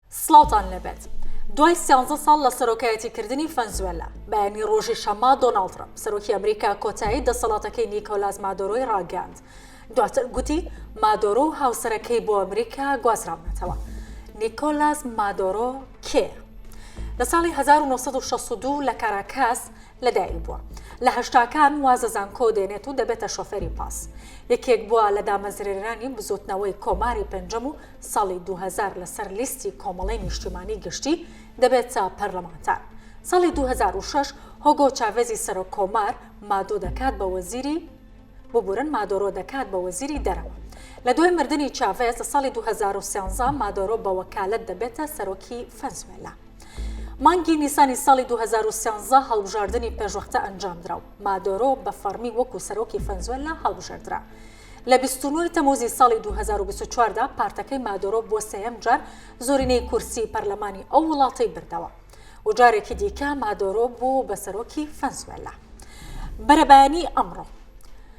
سڵاوتان لێبێت دوای سیانزە ساڵ لە سەرۆکایەتی کردنی فەنزوێلا بەیانی ڕۆژی شەممە دۆناڵد ترەمپ سەرۆکی ئەمریکا کۆتایی دەسەڵاتەکەی نیکۆلاس مادۆرۆی ڕاگەیاند دواتر گوتی مادۆرۆ و هاوسەرەکەی بۆ ئەمریکا گوازراونەتەوە نیکۆلاس مادۆرۆ کێ لە ساڵی 1962 لە کاراکاس لەدایک بووە. لە هەشتاکان وازە زانکۆ دێنێت و دەبێتە شۆفێری پاس. یەکێک بووە لە دامەزرێنەرانی بزووتنەوەی کۆماری پێنجەم و ساڵی دوو هەزار لەسەر لیستی کۆمەڵەی نیشتیمانی گشتی دەبێتە پەرلەمانتار. ساڵی دوو هەزار و شەش هۆگۆ چاڤێزی سەرۆک کۆمار مادۆ دەکات بە وەزیری ببورن مادۆرۆ دەکات بە وەزیری دەرەوە. لە دوای مردنی چاڤێز لە ساڵی دوو هەزار و سێزدە مادۆرۆ بە وەکالەت دەبێتە سەرۆکی فەنزوێلا. مانگی نیسانی ساڵی 2013 هەڵبژاردنی پێشوەختە ئەنجامدرا و مادۆرۆ بە فەڕمی وەکو سەرۆکی فەنزوێللا هەڵبژێردرا. لە 29 تەموزی ساڵی 2024 دا پارتەکەی مادۆرۆ بۆ سێیەم جار زۆرینەی کورسی پەرلەمانی ئەو وڵاتەی بردەوە و جارێکی دیکە مادۆرۆ بوو بە سەرۆکی فەنزوێللا. بەرەبەیانی ئەمڕۆ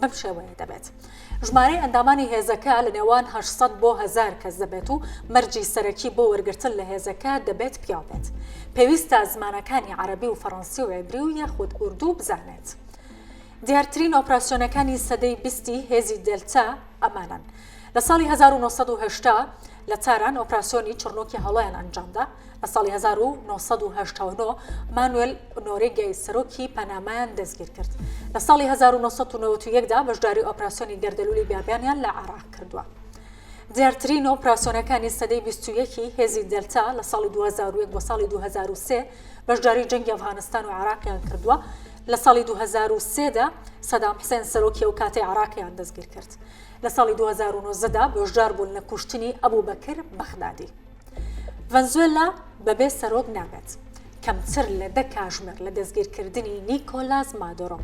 بەم شێوەیە دەبێت ژمارەی ئەندامانی هێزەکە لە نێوان 800 بۆ هزار کەس دەبێت و مەرجی سەرەکی بۆ وەرگتن لە هێزەکە دەبێت پیاو بێت پێویستە زمانەکانی عربی و فەڕەنسی و عێبری و یاخود ئوردو بزانێت دیارترین ئۆپراسسیۆنەکانی سەدەی بیستی هێزی دلتا ئەمانن لە ساڵی 1970 لە تاران ئۆپراسیۆنی چڕنۆکی هەڵۆیان ئەنجامدا لە ساڵی 1970 مانوێل نۆرێگای سەرۆکی پەنامایان دەستگیر کرد لە ساڵی 1990دا بەشداری ئۆپراسیۆنی گەردەلولی بابیانیان لە عراق کردووە. دیارترین و پراسۆنەکانی سەدەی 21ی هێزی دەلتا لە ساڵی 2001 بۆ ساڵی 2023 بەشداری جەنگی ئەفغانستان و عراقیان کردووە لە ساڵی 2023دا سەدام حسێن سەرۆکی ئەو کاتی عراقیان دەستگیر کرد لە ساڵی دوو هەزار و نۆزدە دا بەشدار بوون لە کوشتنی ئەبوبەکر بەغدادی. ڤەنزوێلا بەبێ سەرۆک نابێت. کەمتر لە دە کاژمێر لە دەستگیرکردنی نیکۆلاس مادۆرۆ،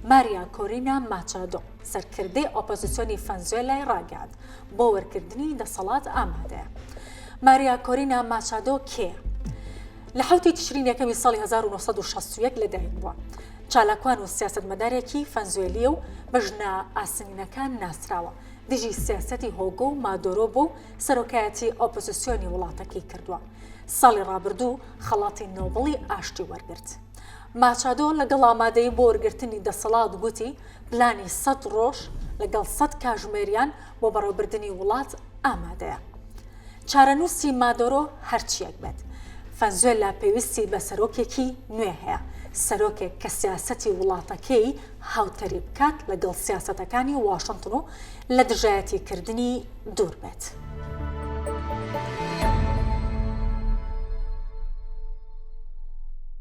ماریا کۆرینا ماچادۆ، سەرکردەی ئۆپۆزیسیۆنی ڤەنزوێلای ڕاگەیاند بۆ وەرگرتنی دەسەڵات ئامادەیە. ماریا کۆرینا ماچادۆ کێیە؟ لە حەوتی تشرین یەکەمی ساڵی هەزار و نۆ سەد و شەست و یەک لەدایک بووە. چالاکوان و سیاسەتمەدارێکی فەنزوێلییە و بە ژنە ئاسنینەکان ناسراوە، دژی سیاسەتی هۆگۆ و مادۆرۆ بووە و سەرۆکایەتی ئۆپۆزسیۆنی وڵاتەکەی کردووە. ساڵی ڕابردوو خەڵاتی نۆبڵی ئاشتی وەرگرت. ماچادۆ لەگەڵ ئامادەیی بۆ وەرگرتنی دەسەڵات گوتی، پلانی سەد ڕۆژ لەگەڵ سەد کاژمێریان بۆ بەڕێوەبردنی وڵات ئامادەیە. چارەنووسی مادۆرۆ هەرچییەک بێت، فەنزوێللا پێویستی بە سەرۆکێکی نوێ هەیە، سەرۆکێک کە سیاسەتی وڵاتەکەی هاوتەریب بکات لەگەڵ سیاسەتەکانی واشنتن و لە دژایەتیکردنی دوور بێت.